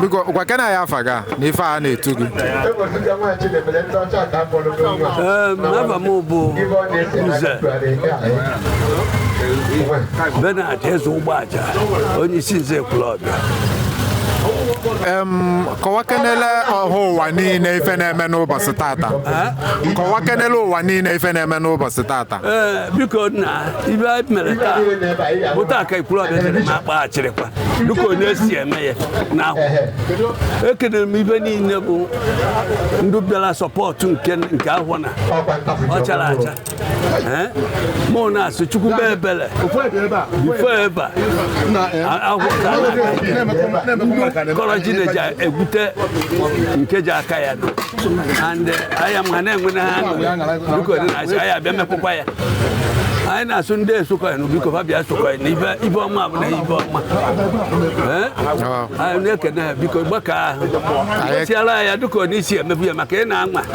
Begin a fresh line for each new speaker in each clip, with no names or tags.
biko gwakene anyị afa gị na ife a na-etu gị afa m bụ nze benard eze ụgbọaja onye isi nze ekwulọbịa kọwakenele ọha ụwa niile ife na-eme n'ụbọchị tata kọwakenele ụwa niile ife na-eme n'ụbọchị tata ee biko nna ife anyị mere taa bụ taa ka ekwulọbịa dịrị ma akpa achịrịkwa dịka anyị si eme ya na ahụ ekelere m ibe niile bụ ndị bịara sọpọtụ nke nke ahụ na ọ chara acha mụ na-asị chukwu mee ebere ife ebe kọrọ Chineke egwute nke ji aka ya nọ and eh, aya m ha na-enwe na ha biko dị na-asị aya bịa mepụkwa ya anyị na-asị ndị esokọnụ biko fa bịa sokọnụ ife ọma bụ na ife ọma anyị na-ekene ha biko gbaka ahụ tiara ya dịka anyị si emebu ya maka ị na-anwa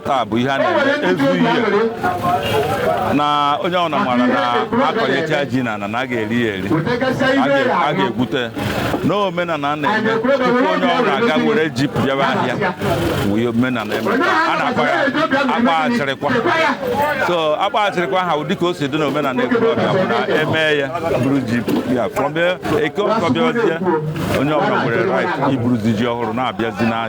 taa bụ ihe a na-eme ezu ihe na onye ọbụla mara na akọnyecha ji na na a ga-eri ya eri a ga-egwute na omenala a na-eme tupu onye ọbụla ga-ewere ji bịaba ahịa wee omenala eme a na-akpọ ya akpa achịrịkwa so akpa achịrịkwa ha ụdị ka o si dị na omenala ekwurọbịa bụ na e mee ya buru ji ya from eke ekwulọbịa onye ọbụla nwere right iburuzi ji ọhụrụ na-abịazi n'ahịa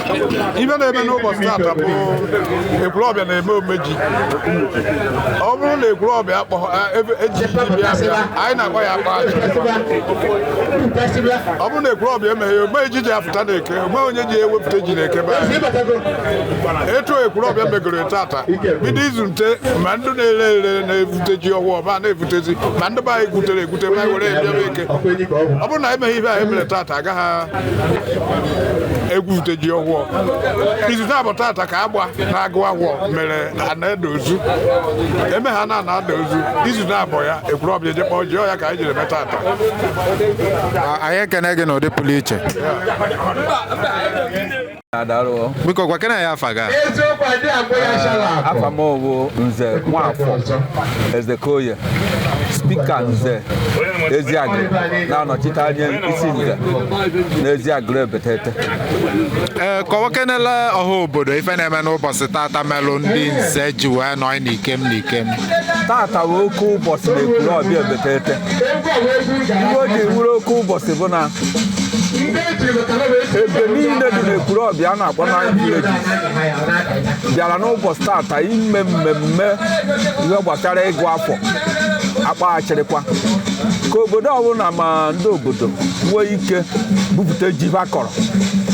ife na-eme n'ụbọchị tata bụ ekwulọbịa na-eme omeji ọ bụrụ na ekwulọbịa eji bịa bịa anyị na-akpọ ya akpa aja ọ bụrụ na ekwulọbịa emeghị omeji ji afụta na eke o nwee onye ji ewepụta ji na eke be anyị etu ekwulọbịa megoro tata bido izu nte ma ndị na-ere ere na-evute ji ọhụụ ọba na-evutezi ma ndị be anyị gwutere egwute ma anyị were bịa eke ọ bụrụ na emeghị ihe anyị mere tata a gaghị egwupụta ji ọhụọ izu naabọ tata ka agba na-agụ ahụọ mere ana-ede ozu eme ha na ana-ada ozu izu naabọ ya ekwulọbịa je kpọọ ji ọ ya ka anyị jiri mee tata anyị ekene gị n'ụdị pụrụ iche biko gwakene anyị afa gị afa m wụ nze nwafọ ezeokoye spika nze eziagụ na-anọchite anya isi nze na eziagụlụ ebetete ee kọwakenele ọha obodo ife na-eme n'ụbọchị tata melụ ndị nze ji wee nọ n'ikem n'ikem tata wụ oke ụbọchị na ekwulọbịa ebetete ife o ji wụrụ oke ụbọchị bụ na ebe niile dị n'Ekwulọbịa a na-akpọ na vileji bịara n'ụbọchị tata ime mmemme ihe gbasara ịgụ afọ akpaghachirịkwa ka obodo ọbụla ma ndị obodo nwee ike bupụta ji ha kọrọ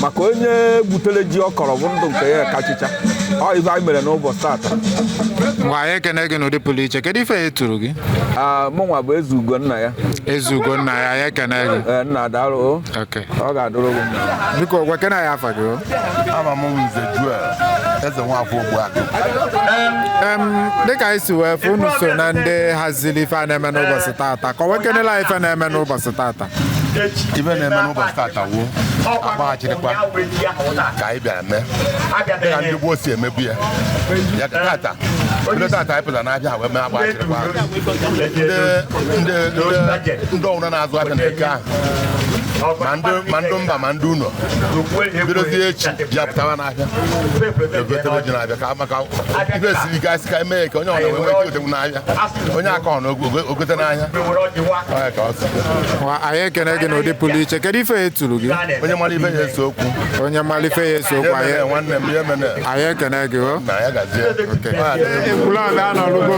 maka onye butere ji ọ kọrọ bụ ndụ nke ya kachicha ọ ife anyị mere n'ụbọchị tata Ngwa anyị ekene gị n'ụdị pụrụ iche kedu ife e turu gị Ah, mụnwa bụ eze ugonna ya eze ugonna ya anyị ekene gị Eh, nna daalụ o. Okay. ọ ga-adụrụ gị mma Biko gwakene anyị afa gị o. afa m Nze Joel Ezenwafọ Ogbuagụ Em, dịka anyị si wee fụ unu so na ndị haziri ife a na-eme n'ụbọchị tata kọwakenelụ anyị ife na-eme n'ụbọchị tata ife na-eme n'ụbọchị tata wụ akpaghachirịkwa ka anyị bịara mee dịka ndị gboo si emebu ya ya ka tata ndị tata anyị pụtara n'ahịa ha wee mee akpaghachirịkwa ndị ndị ndị ọwụna na-azụ ahịa na eke ahụ ma ndị mba ma ndị ụlọ bidozie echi bịa pụtawa n'ahịa egotebe ji n'ahịa ka maka ife siri ike a sị ka e mee ya ka onye ọbụla nwee ike otegwu n'ahịa onye akọna o gote n'ahịa anyị ekene gị n'ụdị pụrụ iche kedu ife ya eturu gị onye mara ife ya ese okwu onye mara ife ya ese okwu anyị nwanne m ya emene anyị ekene gị o na ya gazie Ekwulọbịa anọlụgo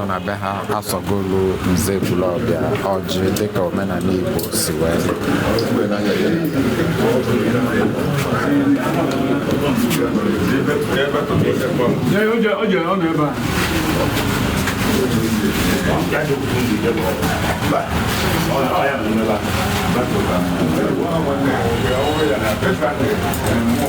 nọ na be ha asọgolu nze Ekwulọbịa ọjị dịka omenanị Igbo si wee dị.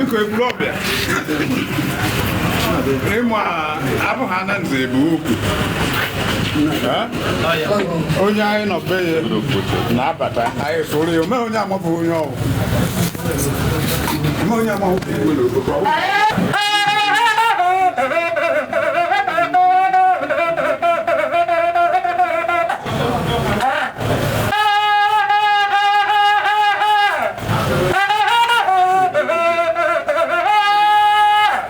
biko Ekwulọbịa ịma abụghị ana nze bu ukwu onye anyị nọ be ya na-abata anyị soro ya omee onye amabụ onye ọwụ omee onye amabụ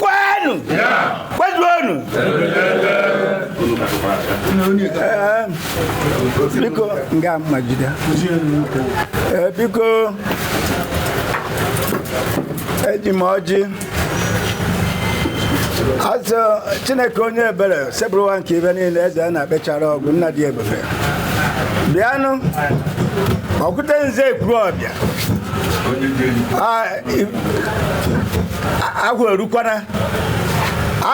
kwenu kwejuonu Ee, biko nga mmagide Ee, biko eji m ọjị azụ chineke onye ebere Osebụrụwa nke ihe niile eze a na-akpechara ọgụ nna dị ebube bịanụ ọkụte nze ekwuru ọbịa Ah, ahụ erukwana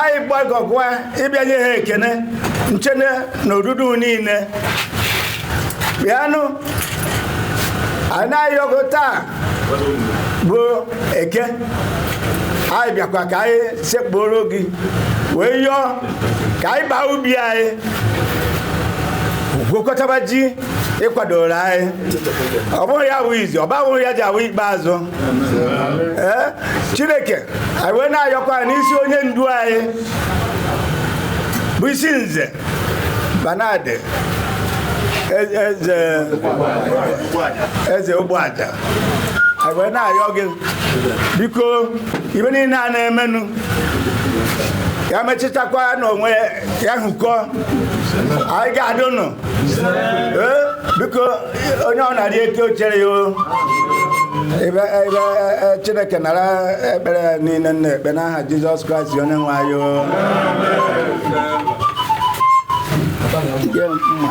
anyị gbakọkwa ịbịa nye ha ekene nche na odudu niile bịanụ anyị na-ayọ gị taa bụ eke anyị bịakwa ka anyị sekpuru gị wee yọọ ka anyị baa ubi anyị gwukọtaba ji ị kwadoro anyị ọ bụghị ya bụ izizi ọ bụghị ya ji awụ ikpeazụ ee chineke anyị wee na-ayọkwa anyị n'isi onye ndu anyị bụ isi nze Bernard e- eze eze ogbuaja anyị wee na-ayọ gị biko ibe niile a na-emenụ ya mechitakwa n'onwe ya ahụ ike anyị ga-adịnụ ee biko onye ọ na-arị eke ochere ya o ebe ebe e, chineke nara ekpere a niile m na-ekpe n'aha jizọs kraịst onye nwe anyị o Nye m mma.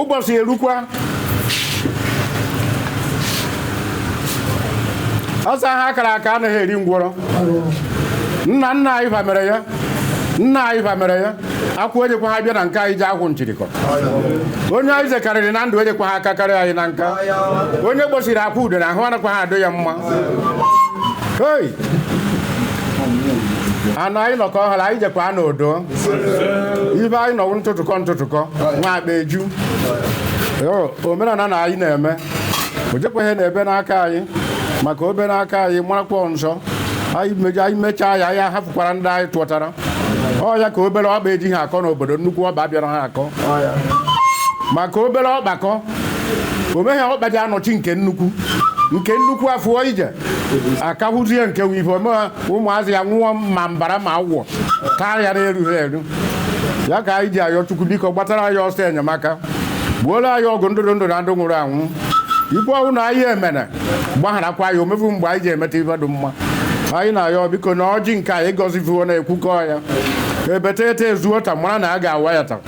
ụbọchị erukwa a sị agha a kara aka anaghị eri ngwọrọ nna nna anyị mere ya nna anyị mere ya akwụ ejekwa ha bịa na nke anyị ji akwụ nchirikọ onye anyị zekarịrị na ndụ ejekwa ha aka karịa anyị na nka onye gbosiri akwụ ude na ahụ anakwa ha adị ya mma hei anụ anyị nọkọ ọhụrụ anyị jekwa anụ odo ibe anyị nọwụ ntụtụkọ ntụtụkọ nwa akpa eju Yo, omenala na anyị na-eme o jekwaghị na ebe n'aka anyị maka o be n'aka anyị marakwa nsọ anyị meja anyị mechaa ya anyị ahapụkwara ndị anyị tụọtara ọ ya ka obere ọkpa ejighị akọ n'obodo nnukwu ọkpa abịara ha akọ maka obere ọkpa kọ o meghị ọkpa ji anọchi nke nnukwu nke nnukwu afụọ ije akahụzie nke wive omegha ụmụazị ya nwụọ ma mbara ama wụọ taa ya na-erughị eru ya ka anyị ji ayọ chukwu biko gbatara anyị ọsọ enyemaka gboola anyị ọgụ ndị dị ndụ na ndị nwụrụ anwụ ife ọbụna anyị emene gbagharakwa ya o mefu mgbe anyị ji emeta ife dị mma anyị na-ayọ biko na ọjị nke anyị gọzifuo na-ekwukọ ya ebeta eta ezuo ta mara na a ga-awa ya ta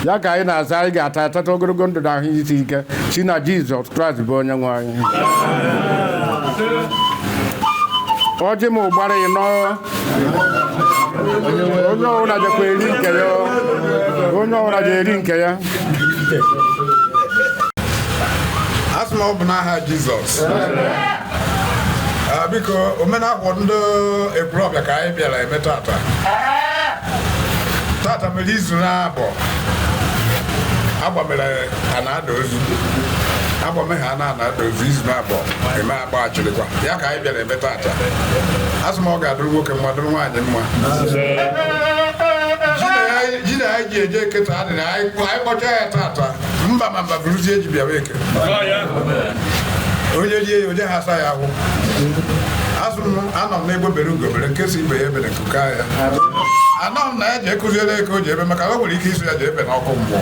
ya ka anyị na-asị anyị ga-ata atata ogologo ndụ na ahụ isi ike si na jizọs kraịst bụ onye nwe anyị ọjị mụ gbara ịnọ onye ọbụla jekwa eri nke ya onye ọbụla ji eri nke ya asị m ọ bụ n'aha jizọs Ah, biko omenala ndị Ekwulọbịa ka anyị bịara eme taata taata mere izu na-abụ agba mere ha na-ada ozu agba mere ha na-ada ozu izu na-abụ eme gbachirikwa ya ka anyị bịara ebe taata asị m ọ ga-adụrụ nwoke mma dụrụ nwaanyị mma ji na anyị ji eje eke taa dị na anyị kpọcha ya taata mba ma mba bụrụzie eji bịawa eke onye rie ya onye ha asa ya ahụ asị m anọ m n'egbe bere ugo bere nke sị ibe ya ebere nku kwaa ya anọ m na ya ji akụziere ebe o ji ebe maka na o nwere ike ịsị ya ji ebe n'ọkụ mmụọ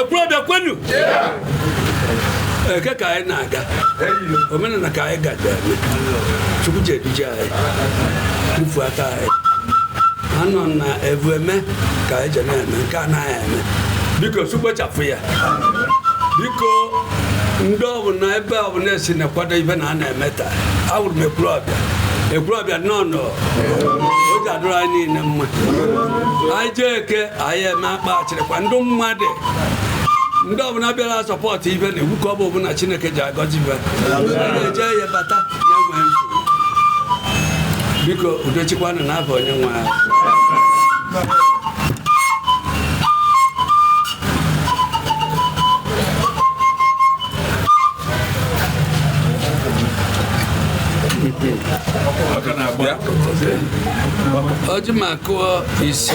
Ekwulọbịa kwenu eke ka anyị na-aga omenala ka anyị gaje chukwu ji eduje anyị tufu aka anyị anọ na ebu eme ka anyị je na-eme nke anaghị eme biko chukwu kpochapụ ya biko ndị ọbụla ebe ọbụla e si na-akwado ife na a na-eme taa awụrụ m Ekwulọbịa Ekwulọbịa nnọọ nụ o ji adụrụ anyị niile mma anyị jee eke anyị eme akpa dịkwa ndị mmadụ ndị ọbụla bịara support ife na-egwu ka ọ bụ ọbụla chineke ji agọzi ibe na-eje ya bata na-enweghị nsogbu biko udo chịkwanụ na abụ onye nwe anyị ọjị ma kụọ ise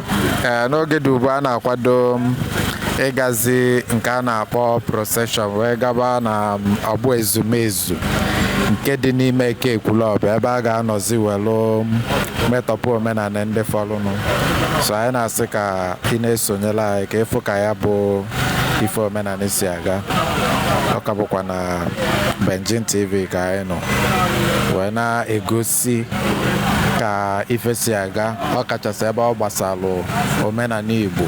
ee n'oge dị ugbu a na-akwado m ịgazi nke a na-akpọ procession wee gaba na m, ọgbọ ezumezu nke dị n'ime Eke Ekwulọbịa ebe a ga-anọzi welu metọpụ omenanị ndị fọlụnụ so anyị na-asị ka ị na-esonyelụ anyị ka ị fụ ka ya bụ ife omenanị si aga ọ ka bụkwa na Benjin TV ka anyị nọ wee na-egosi isi ka ife si aga ọ kachasị ebe ọ gbasalụ omenanị Igbo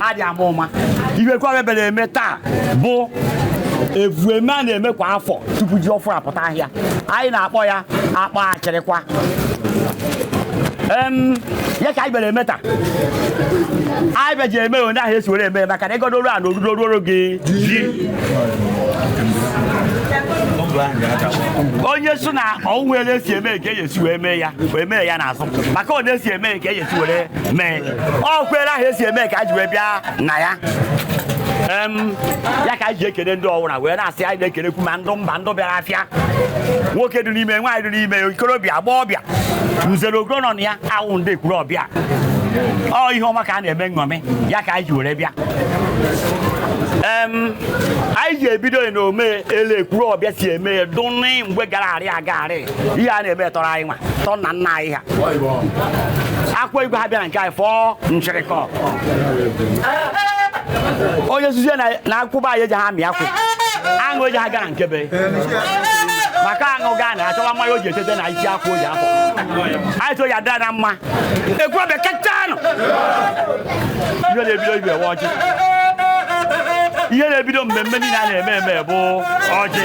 ha dị mma ihe kwa a bịara eme taa bụ evueme a na-eme kwa afọ tupu ji ọfụrụ apụta ahịa anyị na-akpọ ya akpọ achịrịkwa Em, ya ka anyị bịara eme taa anyị bịa ji eme onye ahụ esi were eme maka na ịgọdoro a na orudo ruoro gị ji onye so na ọnwụ ele esi eme ka eji esi wee mee ya wee mee ya n'azụ maka ọ na-esi eme ka eji esi were mee ọ kwere ahụ esi eme ka a ji wee bịa na ya ya ka anyị ji ekene ndị ọwụra wee na-asị anyị na-ekenekwu ma ndụ mba ndụ bịara afịa nwoke dị n'ime nwaanyị dị n'ime ikorobịa agbọọbịa nze na ọzọ nọ na ya awụ ndị Ekwurọbịa ọ ihe ọma ka a na-eme nṅọmị ya ka anyị ji were bịa anyị ji ebido iṅomi ele Ekwurọbịa si eme dụnị mgbe gara arị aga arị ihe a na-eme tọrọ anyị nwa tọ na nna anyị ha akwa igwe ha bịa na nke anyị fọọ nchịrịkọ onye nzuzo na akwụba anyị eji ha mịa akwụ aṅụ eji ha gara nkebe maka aṅụ gaa na achọwa mmanya o ji etete na isi akwụ o ji afọ anyị so ya dara na mma Ekwurọbịa kachanụ ihe na-ebido ibe ewe ọjị ihe na-ebido mmemme niile a na-eme eme bụ ọjị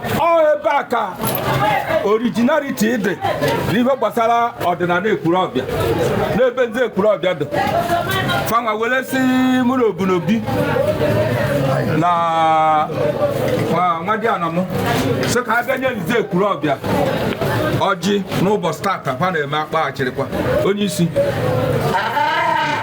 ọ ebe a ka originality dị n'ihe gbasara ọdịnana Ekwurọbịa n'ebe ndị Ekwurọbịa dị fa nwa were sị mụ na obunobi na nwadiana m sị ka a bịa nye ndị Ekwurọbịa ọjị n'ụbọchị tata ha na-eme akpa achịrịkwa onye isi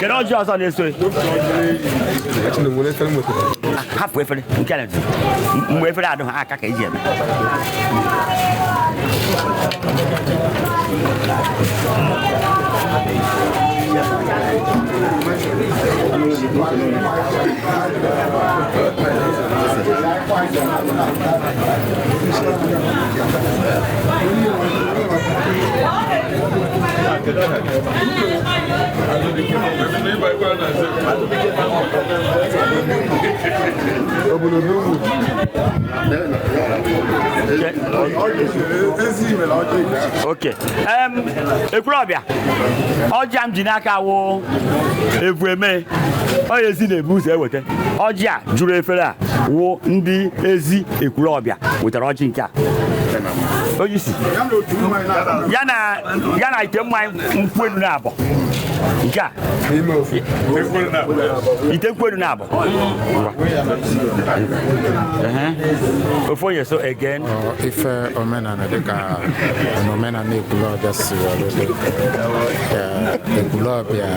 kedu ọjị ọzọ na-eso ya? hapụ efere nke na mgbe efere adụ ha aka ka eji eme ok ekwurọbịa ọjị a m ji n'aka wụ evu eme onye ezi na-evu ụzọ eweta ọjị a juru efere a wụ ndị ezi ekwurọbịa wetara ọjị nke a onye isi ya na ya na ite mmanya nkwụ elu naabọ nke a ite nkwụ elu naabọ ofu onye so aga n'ife omenala dịka omenala ekwulọbịa si were dị ekwulọbịa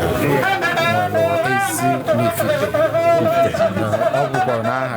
nwere ezi na ifite ọ bụkwa n'aha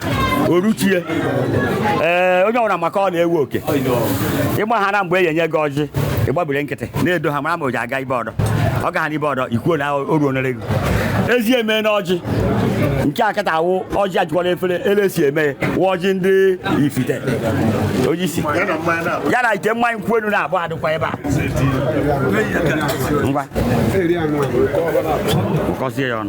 oruchie ee onye ọbụla maka ọ na-ewu oke ịgba ha na mgbe e enye gị ọjị ịgbabiri nkịtị na-edo ha mara ma o ji aga ibe ọdọ ọ gaghị n'ibe ọdọ ikwuo na o ruo nere gị ezi eme na ọjị nke a kịta a wụ ọjị ejukwala efere ele si eme ya wụ ọjị ndị ifite onye isi ya na ite mmanya nkwụ elu naabọ dịkwa ebe a ngwa kọzie ya ọnụ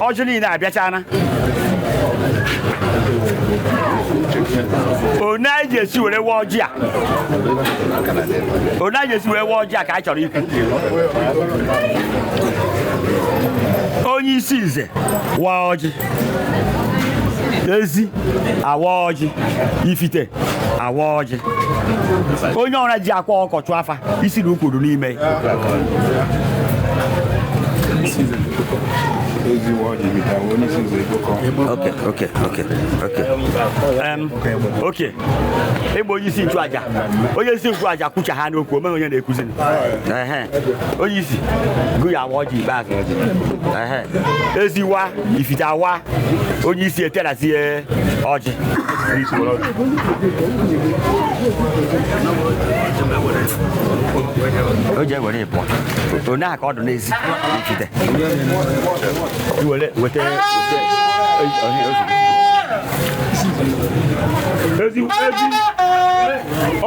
ọjị niile abịachana one e ji esi were wa ọjị a one e ji esi were wa ọjị a ka anyị chọrọ ikwu onye isi nze waa ọjị ezi awa ọjị ifite awa ọjị onye ọra ji akwa ọkọchụ afa isi na ukwuru n'ime Okay, okay, okay, okay. Um, okay. Ịgba onye isi nchụaja onye isi nchụaja kwucha ha n'okwu o meghị onye na-ekwuzi onye isi gụ ya awa ọjị ikpeazụ ezi awa ifite awa onye isi eterasị ya ọjị o ji ewere ịpụ one a ka ọ dụ n'ezi ifite iwere weta ezi ezi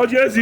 ọjị ezi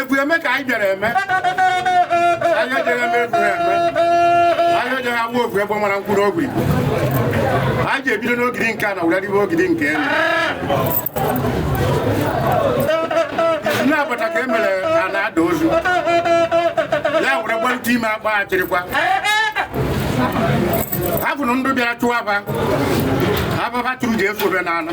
evu eme ka anyị bịara eme anyị ejeghị eme evu ya eme anyị ejeghị agba ofu egbe mara nkwụ n'ogiri anyị ji ebido n'ogiri nke a na were ribe ogiri nke elu nne agbata ka e mere a na-ada ozu ya were gbarute ime akpa achịrịkwa ha kwuru ndụ bịara chụwa ba ababa tụrụ ji efu obe n'ala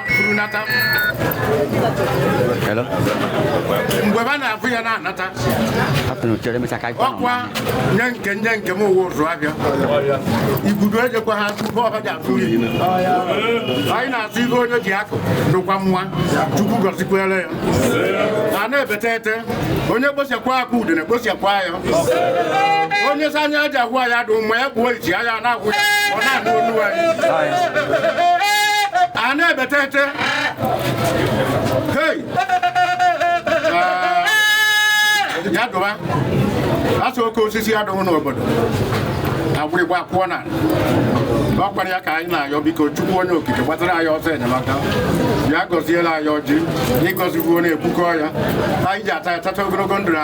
nata mgbe ba na-afụ ya na-anata ọkwa nye nke nye nke m ụwa ụzụ abịa igudo ejekwa ha tupu ọba ji atụ iyi anyị na-atụ ihe onye ji akụ dụkwa mma chukwu gọzikwere ya a na-ebete ete onye kpochakwa akụ udene kpochakwa ya onye sị anya aja gwa ya dụ ma ya gbuo iji anya na-agwụ ya ọ na-anụ olu anyị a na-ebete ete hei ya dụba asụ oke osisi ya dụrụ n'obodo agwụrịgwa pụọ na ọ kpara ya ka anyị na-ayọ biko chukwu onye okike gbatara anyị ọsọ enyemaka ya gọziela anyị ọjị ị gọzikwuo na-ebukọ ya anyị ji ata ya tata ogologo ndụ na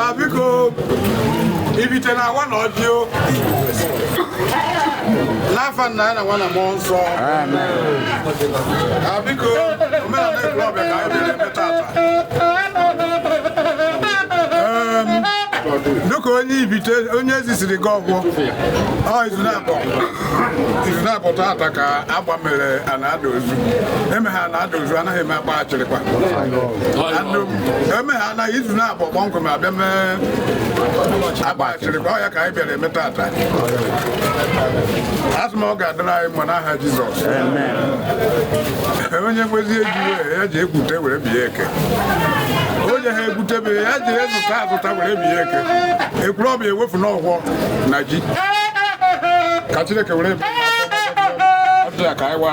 Ah, biko ibite na awa na ọjị o n'afa nna na nwa na mmụọ nsọ Ah, biko omenala Ekwulọbịa ka anyị bịara ebe tata Em, dịka onye ibite onye ezisiri gị ọgwụ ọ izu naabọ izu naabọ tata ka agba mere a na-ada ozu eme ha na-ada ozu anaghị eme agba achịrịkwa Anụ- emeghana izu naabọ kpọmkwem abịa mee agbachiri ka ọ ya ka anyị bịara eme tata asị m ọ ga-adịrị anyị mma n'aha Jizọs onye nwezi eji ya ji ekwute were bịa eke onye ha egwutebe ya ji ezụta azụta were bịa eke Ekwurọbịa ewefu n'ọgwọ na ji ka Chineke were ya ka anyị wa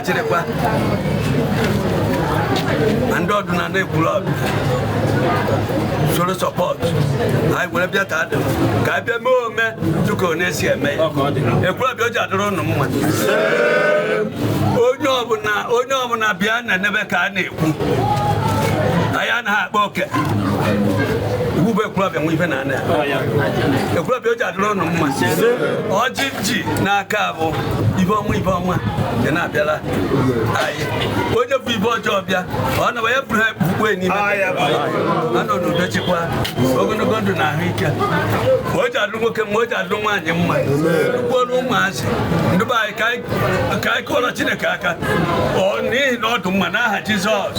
na-achịrịkwa na ndị ọdụ na na-ekwuru ọdụ soro support anyị were bịa taa dị ka anyị bịa mee ome dịka ọ na-esi eme ya ekwurọbịa o ji adịrị ụnụ mma onye ọbụla onye ọbụla bịa na n'ebe ka a na-ekwu anyị anaghị akpa oke iwu bụ ekwurọbịa nwe ife na ekwulọbịa o ji adịrị ụnụ mma ọjị ji n'aka abụ ibe ọma ibe ọma ya na-abịara anyị onye bu ibe ọjọọ bịa ọ na ya buru ha bukwe n'ime anọ n'udo chịkwa ogologo ndụ na ahụike ma o ji adịrị nwoke ma o ji adịrị nwaanyị mma nnukwu ọrụ ụmụazị ndị be anyị ka anyị kụọrọ Chineke aka n'ihi na ọ dụ mma n'aha Jizọs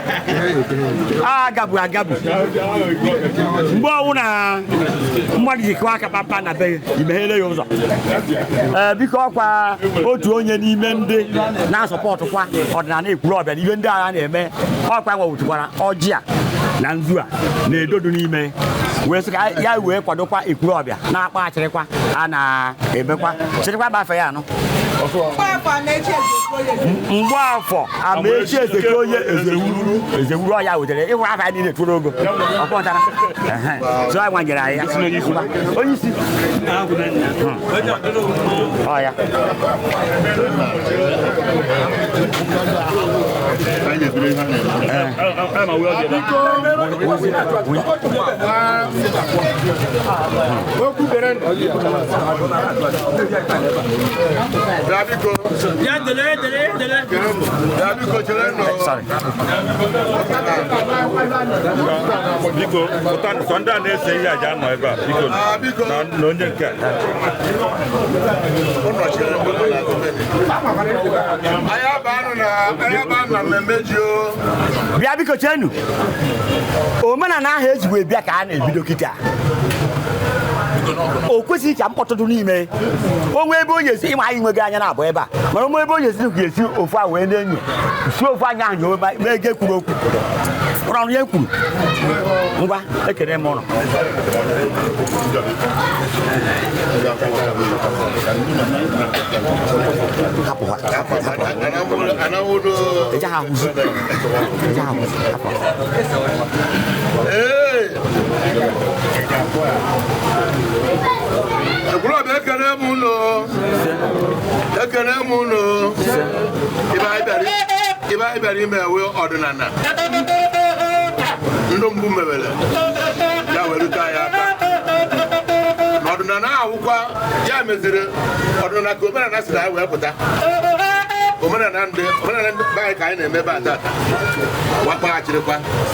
agabu agabu mgbe ọwụna mmadụ ji kụwa aka kpamkpam na be i meghere ya ụzọ ee biko ọkwa otu onye n'ime ndị na-asupportkwa ọdịnala Ekwulọbịa na ihe ndị a na-eme ọkwa nwewụtụkwara ọjị a na nzu a na ego dụ n'ime wee sị ka ya wee kwadokwa Ekwulọbịa na-akpa achịrịkwa a na-emekwa achịrịkwa bafe ya anụ Mgbafọ Amaechi Ezeke onye ezewuru ezewuru ọ ya wetere ịhụ afa ya niile tụrụ ogo ọkpọtara so anyị nwanyere anyị ya onye isi ọya Thank you. biko pụta sọ ndị a na-ese ihe ga-anọ ebe a biko na na onye nke a Anyị abanyena anyị abanyena mmemme ji o. bịa biko cheenụ omenala ahụ e ji wee bịa ka a na-ebido kịta o kwesịghị ka mkpọtụ dị n'ime o nwee ebe onye si ị ma anyị nweghị anya na-abụ ebe a mana o nwee ebe onye si ga esi ofu a wee na-enyo si ofu anya ahụ nyowe ma ego ekwuru okwu ụrụ ọrụ ya ekwuru ngwa ekene m unu Hey! Ekwulọbịa ekene m unu ekene m unu ihe anyị bịara ihe anyị bịara ime a wụ ọdịnala ndị mbụ mebere ya werute anyị aka na ọdịnala wụkwa ya meziri ọdịnala ka omenala si na ya wee pụta omenala ndị omenala ndị be anyị ka anyị na-eme ebe a taata wụ ịkpa achịrịkwa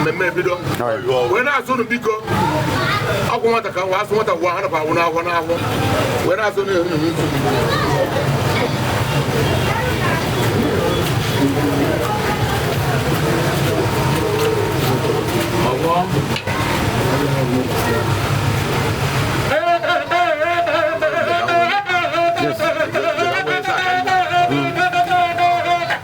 mmemme ebido wee na-asị unu biko akwụ nwata ka nwa a sị nwata ga wụọ ahụ nakwa awụ n'afọ n'afọ wee na-asị unu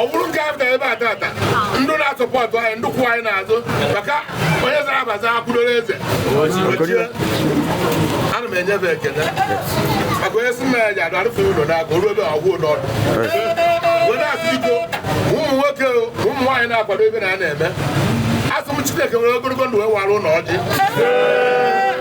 ọ bụrụ nke a ebe a tata ndị na-asọpọtụ anyị ndị kwụ anyị n'azụ maka onye zara abaza akwụdoro eze ana m enye enyefe ekele maka onye si nna ya ji adụ arụfe ụlọ n'aka oruo ebe ọgwụ ụlọ ọdụ wee na-asị biko ụmụ nwoke ụmụ nwaanyị na-akwado ebe na a na-eme asị m Chineke nwere ogologo ndụ wee wara ụlọ ọjị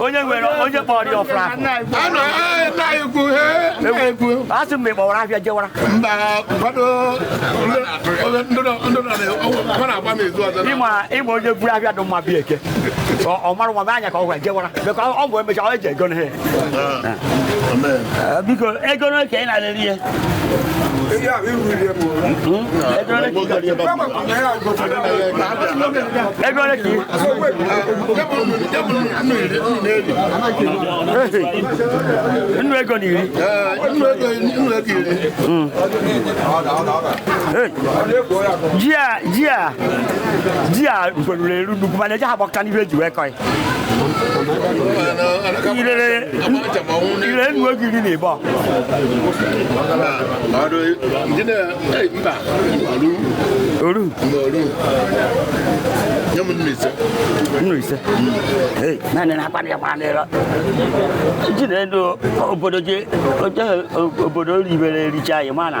onye nwere onye kpọrọ ya ọfụrụ afọ asị mgbe gbawara afịa jewara ịma onye buru afịa dị mma bịa Eke ọ mara nwa anya ka ọ gwara jewara ọ bụ emecha ọ eji ego na Eh, biko ego n'oke anyị na-arịrị ihe ego ole ka nnu ego na iri ji a ji a ji a mgberuru eru nnukwu mana eji ha gbakọta n'ihe eji wee kọ ya ilere nnu ego iri na ịbọ oru nnu ise naanị na akpa ya gbara n'ịrọ jide ndụ obodo je obodo ribere ericha anyị mana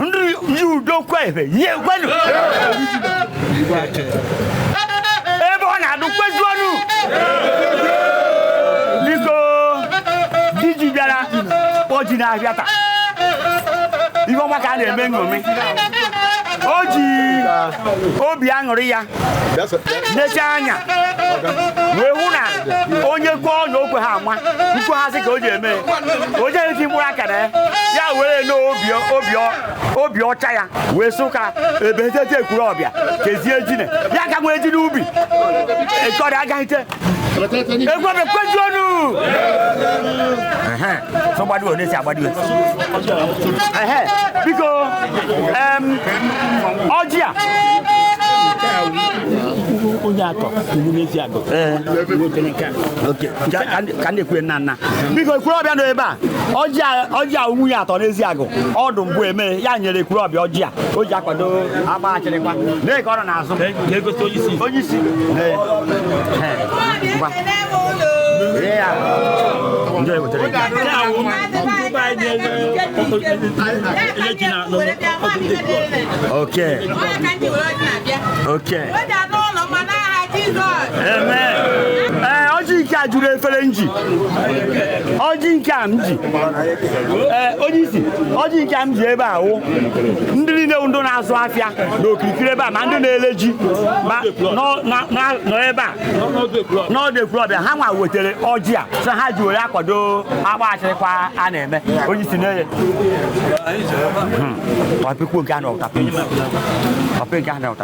nri yi udo kwa ebe yi ekwenu ebe ọ na-adụ kwezuonu biko diji bịara oji na-abịa taa ihe ọma ka a na-eme nṅomi o ji obi aṅụrị ya neche anya wee hụ na onye gụọ ọnya okwe ha ama nkwe ha sị ka o ji eme o jeghị ti mkpụrụ akara ya ya were nnọọ obi ọcha ya wee sị ka ebe etete Ekwulọbịa kezie jine ya ka nwee ji n'ubi ekọrị agaghịte Ekwulọbịa kwezuonu so gbadiwe ọ na-esi agbadiwe biko ọjị a onye atọ iwu n'Eziagụ ka ndị kwue nna nna biko Ekwulọbịa nọ ebe a ọjị a nwunye atọ n'Eziagụ ọdụ mbụ eme ya nyere Ekwulọbịa ọjị a o ji akwado agba achịrịkwa na-eke ọrụ n'azụ na-egosi onye isi onye isi ndị ewetara nke a wụ mba anyị na-eji na okay okay amen ee ọjị nke a juru efere m ji ọjị nke a m ji ee onye isi ọjị nke a m ji ebe a wụ ndị niile ndị na-azụ afịa na okirikiri ebe a ma ndị na-ele ji ma nọ ebe a n'ọdụ ekwulọbịa ha nwa wetara ọjị a sị ha ji were akwado akpa achịrịkwa a na-eme onye isi na-eye hmm. ọpịkwu nke a na ụtapị nke a na ụtapị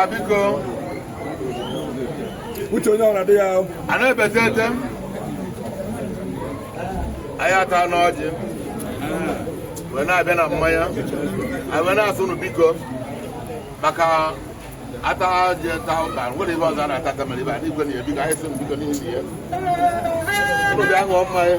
Abiko. Uche onye ọrụ adịghị ahụ. A na-ebete ete. Anyị atana ọjị. Wee na-abịa na mmanya. Anyị wee na-asị nụ biko maka a taa ọjị taa ụta nwere ihe ọzọ a na-ata kamere ibe a na-igwe na ya biko anyị sị nụ biko n'ihi ya. Ụlọ bịa ṅụọ mmanya.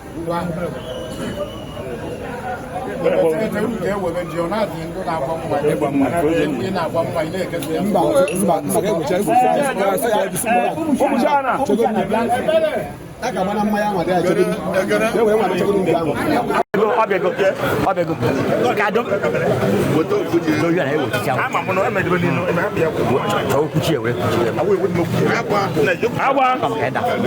Agba.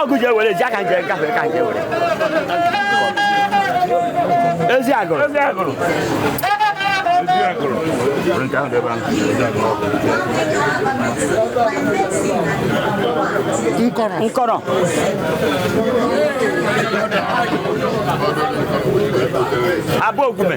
ọgụ ji ewere ji aka nje nka ka nje were ezi agụrụ ezi agụrụ nkọrọ nkọrọ abụ ogume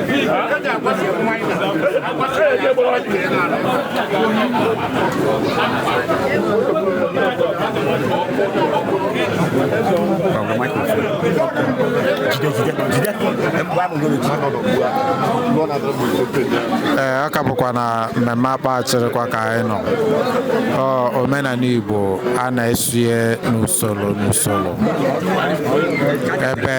ee ọ ka bụkwa na mmemme akpa achịrịkwa ka anyị nọ Ọ, omenala igbo a na-eso n'usoro n'usoro ebe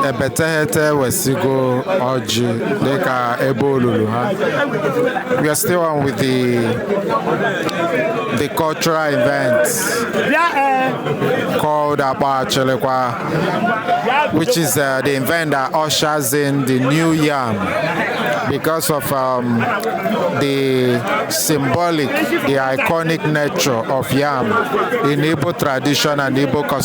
ebe teghete wee sigo ọjị dịka ebe olulu ha we are still on with the the cultural event called Akpa Achilekwa which is uh, the event that ushers in the new yam because of um, the symbolic the iconic nature of yam in Igbo tradition and Igbo custom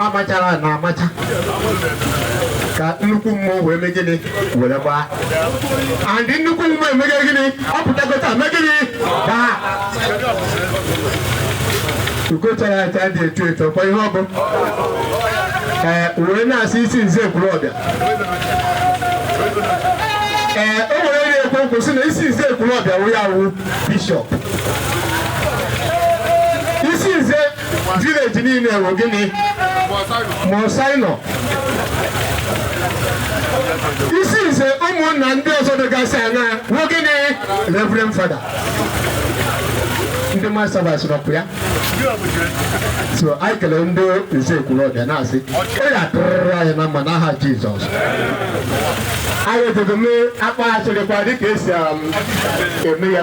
amachara na amacha ka nnukwu mmụọ wee mee gịnị were gbaa and nnukwu mmụọ emege gịnị ọ pụtakọta mee gịnị gbaa ugochara aja dị etu etu ọkwa ihe ọ bụ ee wee na-asị isi nze ekwulọbịa ee o nwere onye ekwu okwu sị na isi nze ekwulọbịa wụ ya wụ bishọp village niile bụ gịnị monsignor isi nze ụmụnna ndị ọzọ dịgasị anya bụ gịnị reverend fada ndị masabas nọpụ ya so anyị kelee ndị nze kwuru ọbịa na-asị ọ ya tụrụrụ anyị na mma n'aha jizọs anyị edogo mee akpa asịrịkwa dịka esi um, eme ya